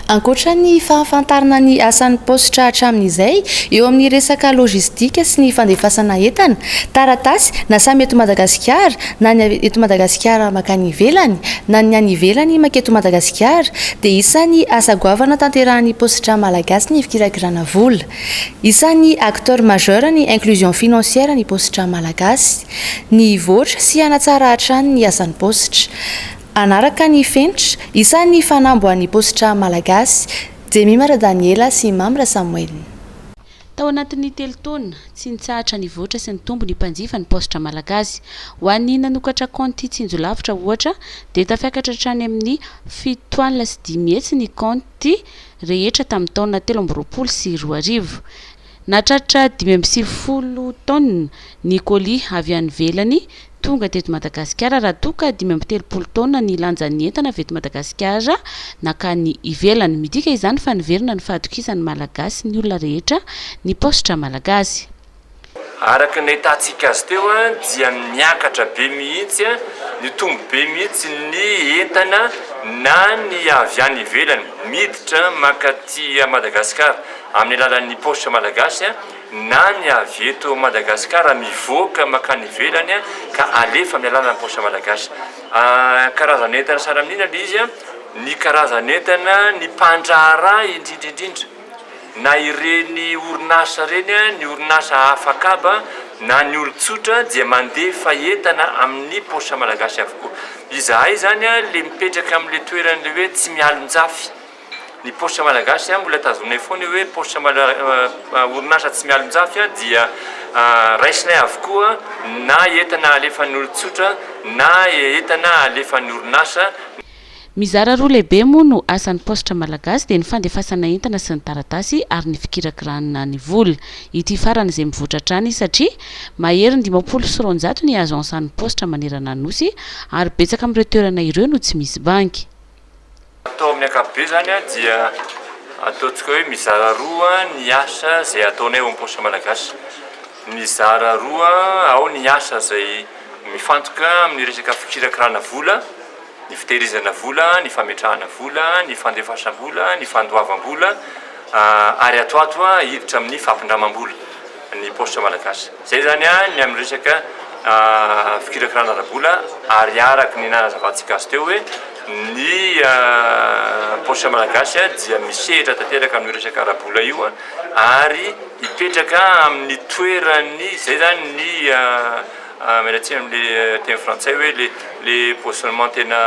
Ankoatra ny fahafantarana ny asan'ny paositra hatramin'izay eo amin'ny resaka lojistika sy ny fandefasana entana, taratasy, na samy eto Madagasikara, na ny avy eto Madagasikara mankany ivelany, na ny any ivelany manketo Madagasikara, dia isan'ny asa goavana tanterahan'ny paositra malagasy ny fikiragirana vola. Isan'ny acteur majeur ny inclusion financière ny paositra malagasy. Ny hivoatra sy hanatsara hatrany ny asan'ny paositra. Hanaraka ny fenitra, isan'ny fanambo an'ny paositra malagasy, Jemima Radaniela sy Mamra Samoelina. Tao anatin'ny telo taona, tsy nitsahatra nivoatra sy nitombo ny mpanjifa ny paositra malagasy. Ho an'ny nanokatra kaonty tsinjolavitra, ohatra, dia tafiakatra hatrany amin'ny fito alina sy dimy hetsy ny kaonty rehetra tamin'ny taona telo amby roapolo sy roa arivo. Nahatratra dimy amby sivifolo taonina ny colis avy any ivelany tonga teto Madagasikara raha toa ka dimy amby telopolo taonina ny lanjan'ny entana avy eto Madagasikara nankany ivelany. Midika izany fa niverina ny fahatokisany Malagasy ny olona rehetra ny paositra Malagasy. Araka ny nahitantsika azy teo dia niakatra be mihitsy, nitombo be mihitsy ny entana na ny avy any ivelany miditra mankaty Madagasikara. amin'ny alalan'ny paositra malagasy na ny avy eto Madagasikara mivoaka mankany ivelany ka alefa amin'ny alalan'ny paositra malagasy. Karazan'entana sahala amin'inona ilay izy? Ny karazan'entana, ny mpandraharaha indrindra indrindra na ireny orinasa ireny, ny orinasa hafa kaba na ny olon-tsotra dia mandefa entana amin'ny paositra malagasy avokoa. Izahay izany ilay mipetraka amin'ilay toeran'ilay hoe Tsimialonjafy. ny paositra malagasy mbola tazonay foana io hoe paositra malagasy orinasa tsy mialonjafy dia raisinay avokoa na entana alefan'ny olon-tsotra na entana alefan'ny orinasa. Mizara roa lehibe moa no asan'ny paositra malagasy dia ny fandefasana entana sy ny taratasy ary ny fikirakiranana ny vola. Ity farany izay mivoatra hatrany satria mahery ny dimampolo sy roanjato ny agence an'ny paositra manerana ny Nosy ary betsaka amin'ireo toerana ireo no tsy misy banky. Atao amin'ny ankapobeny izany dia ataontsika hoe mizara roa ny asa izay ataonay ao amin'ny Poste Malagasy. Mizara roa ao ny asa izay mifantoka amin'ny resaka fikirakirana vola, ny fitehirizana vola, ny fametrahana vola, ny fandefasam-bola, ny fandoavam-bola ary ato ato hiditra amin'ny fampindramam-bola ny Poste Malagasy. Izay izany ny amin'ny resaka fikirakirana ara-bola ary araka ny nahazavantsika azy teo hoe ny paositra malagasy dia misehatra tanteraka amin'io resaka ara-bola io ary hipetraka amin'ny toeran'ny izay izany ny miala tsiny amin'ilay teny frantsay hoe le le positionnement tena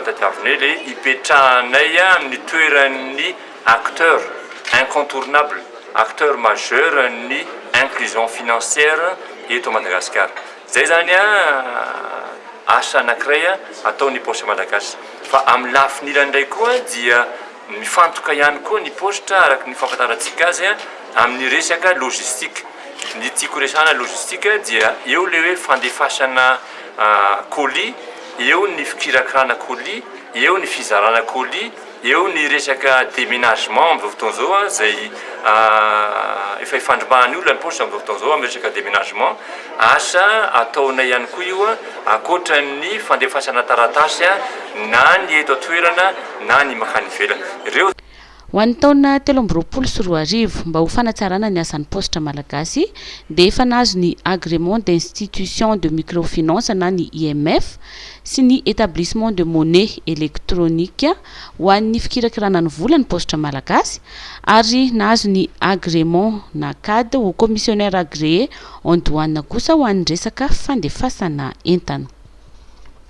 tadiavinay le hipetrahanay amin'ny toeran'ny acteur incontournable, acteur majeur ny inclusion financière eto Madagasikara. Izay izany asa anankiray atao ny poste Malagasy. Fa amin'ny lafiny ilany indray koa dia mifantoka ihany koa ny poste araka ny fahafantarantsika azy amin'ny resaka logistique. Ny tiako resahana logistique dia eo ilay hoe fandefasana colis, eo ny fikirakirana colis, eo ny fizarana colis. Eo ny resaka déménagement amin'izao fotoana izao izay efa ifandrombahan'ny olona ny paosy amin'izao fotoana izao amin'ny resaka déménagement, asa ataonay ihany koa io ankoatra ny fandefasana taratasy na ny eto an-toerana na ny mankany ivelany. Ho an'ny taona telo amby roapolo sy roa arivo, mba ho fanatsarana ny asan'ny paositra malagasy dia efa nahazo ny agrément d'institution de microfinance na ny IMF, sy ny Etablissement de Monnaie Electronique ho an'ny fikirakirana ny vola ny Paositra Malagasy ary nahazo ny Agrément Nacad ho Commissionnaire Agréé en Douane kosa ho an'ny resaka fandefasana entana.